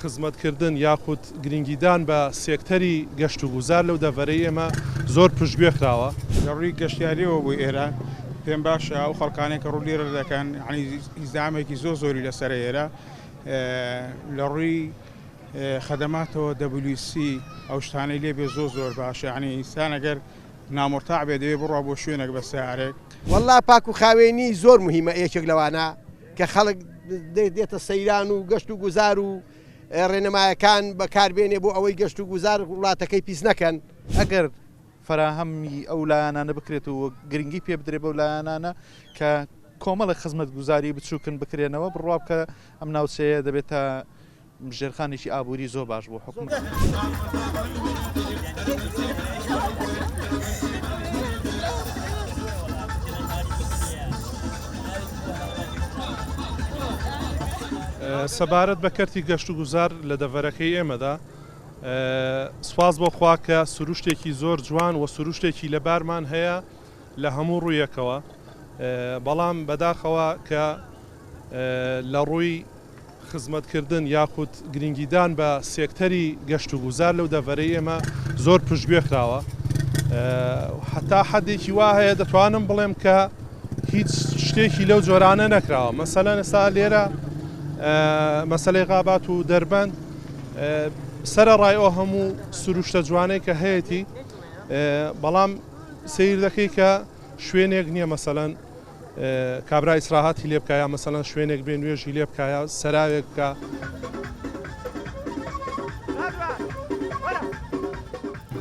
خزمەتکردن یاخود گرنگیدان بە سێکتەری گەشتوگوزار لەو دەڤەرەی ئێمە زۆر پشتگوێ خراوە. لە ڕووی گەشتیارییەوە بۆ ئێران پێم باشە ئەو خەڵکانەی کە ڕوو لێرە دەکەن ئیزدیحامێکی زۆر زۆری لەسەرە ئێرە لە ڕووی خەدەماتەوە دەبلیو سی ئەو شتانەی لێ بێ زۆر زۆر باشە یانی ئینسان ئەگەر نامرتاع بێ دەبێ بڕوا بۆ شوێنێک بە سەیارەیەک. وەڵڵا پاکوخاوێنی زۆر موهیمە یەکێک لەوانە. کە خەڵک دێتە سەیران و گەشت و گوزار و ڕێنمایەکان بەکاربێنێ بۆ ئەوەی گەشت و گوزار وڵاتەکەی پیس نەکەن ئەگەر فەراهەمی ئەو لایەنانە بکرێت و گرنگی پێ بدرێ بەو لایەنانە کە کۆمەڵە خزمەت گوزاری بچووکن بکرێنەوە بڕوا بکە ئەم ناوچەیە دەبێت تا ژێرخانێکی ئابووری زۆر باش بۆ سەبارەت بە کەرتی گەشت و گوزار لە دەڤەرەکەی ئێمەدا سواز بۆ خواکە سروشتێکی زۆر جوان و سروشتێکی لەبارمان هەیە لە هەموو ڕوویەکەوە بەڵام بەداخەوە کە لە ڕووی خزمەتکردن یاخود گرنگیدان بە سێکتەری گەشت و گوزار لەو دەڤەرەی ئێمە زۆر پشتگوێ خراوە حتا حەدێکی وا هەیە دەتوانم بڵێم کە هیچ شتێکی لەو جۆرانە نەکراوە مەسەلا نەسا لێرە مەسلەی غابات و دەربەند سرە ڕای ئەو هەموو سروشتە جوانەی کە هەیەی بەڵام سیر دەکەی کە شوێنێک نییە مەسەەن کابرا ئیسراهاتی لێ بکا یا مەسەلەن شوێنێک بێ نوێژی لێ بکا یا سەراوێک بکا.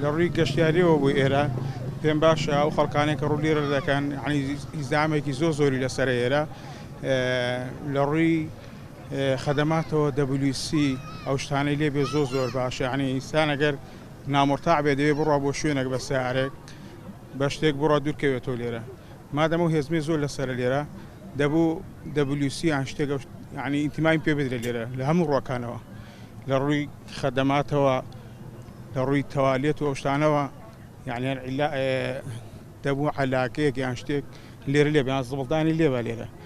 لە ڕووی گەشتیاریەوە بۆ ئێرە پێم باشە ئەو خەڵکانێک کە ڕوو لێرە دەکەن ئیزامێکی زۆ زۆری لەسەر ئێرە لە ڕووی خەدەماتەوە دەبلیسی ئەو شتانەی لێ بێ زۆ زۆر باشە عنی ئینسانەگەر نامۆرتاع بێ دەوێ بڕە بۆ شوێنێک بە سارێک بە شتێک بڕە دوورکەوێتەوە لێرە مادەم ئەو هێزمەی زۆر لەسەرە لێرە دەبوو دەبلیو سی یان شتێکە یعنی ئینتیمایم پێ بدرێت لێرە لە هەموو ڕۆکانەوە لە ڕووی خەدەماتەوە لە ڕووی تەوالێت و ئەوشتانەوە یعنی دەبوو علاکەیەک یان شتێک لێرە لێ بیان زبڵدانی لێبا لێرە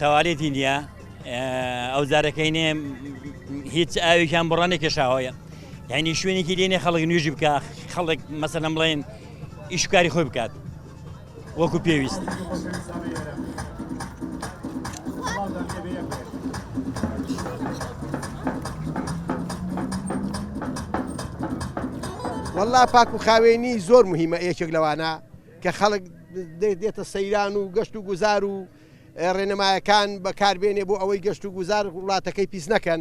تەوالێتی نییە ئەو زارەکەی نێ هیچ ئاوێکیان بڕە نەکێشاوەیە یعنی شوێنێکی لێنێ خەڵک نوێژی بکە خەڵک مەسەلەم بڵێن ئیشکاری خۆی بکات وەکو پێویست. والله پاک و خاوێنی زۆر مهمە یەکێک لەوانە کە خەڵک دێتە سەیران و گەشت و گوزار و ڕێنمایەکان بەکار بێنێ بۆ ئەوەی گەشت و گوزار وڵاتەکەی پیس نەکەن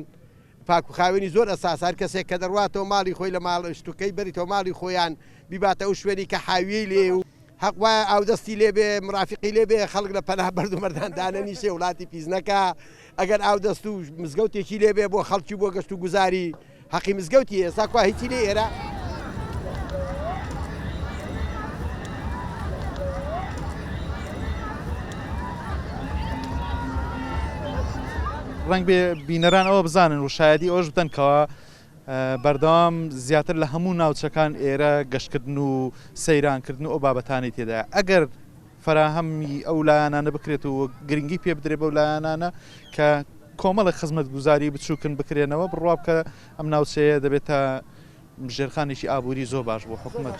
پاک و خاوێنی زۆر ئەساسە هەر کەسێک کە دەڕواتەوە ماڵی خۆی لە ماڵ شتوکەی بەریتەوە ماڵی خۆیان بیباتە ئەو شوێنی کە حاویەی لێ و هەق وایە ئاودەستی لێ بێ مرافقی لێ بێ خەڵک لە پەنا بەرد و مەردان دانەنیشێ وڵاتی پیس نەکا ئەگەر ئاودەست و مزگەوتێکی لێ بێ بۆ خەڵکی بۆ گەشت و گوزاری هەقی مزگەوتی ئێستا کوا هیچی لێ ئێرە. ڕەنگبێ بینەران ئەوە بزانن و شایدی ئەوش بدەن کەەوە بەردەوام زیاتر لە هەموو ناوچەکان ئێرە گەشتکردن و سەیرانکردن و ئەو بابەتانی تێدا ئەگەر فەراهەمی ئەو لایانانە بکرێت و گرنگی پێ بدرێت بەو لایانانە کە کۆمەڵی خزمەت گوزاری بچووکن بکرێنەوە بڕوا بکە ئەم ناوچەیە دەبێت تا ژێرخانێکی ئابووری زۆر باش بۆ حکوومەت.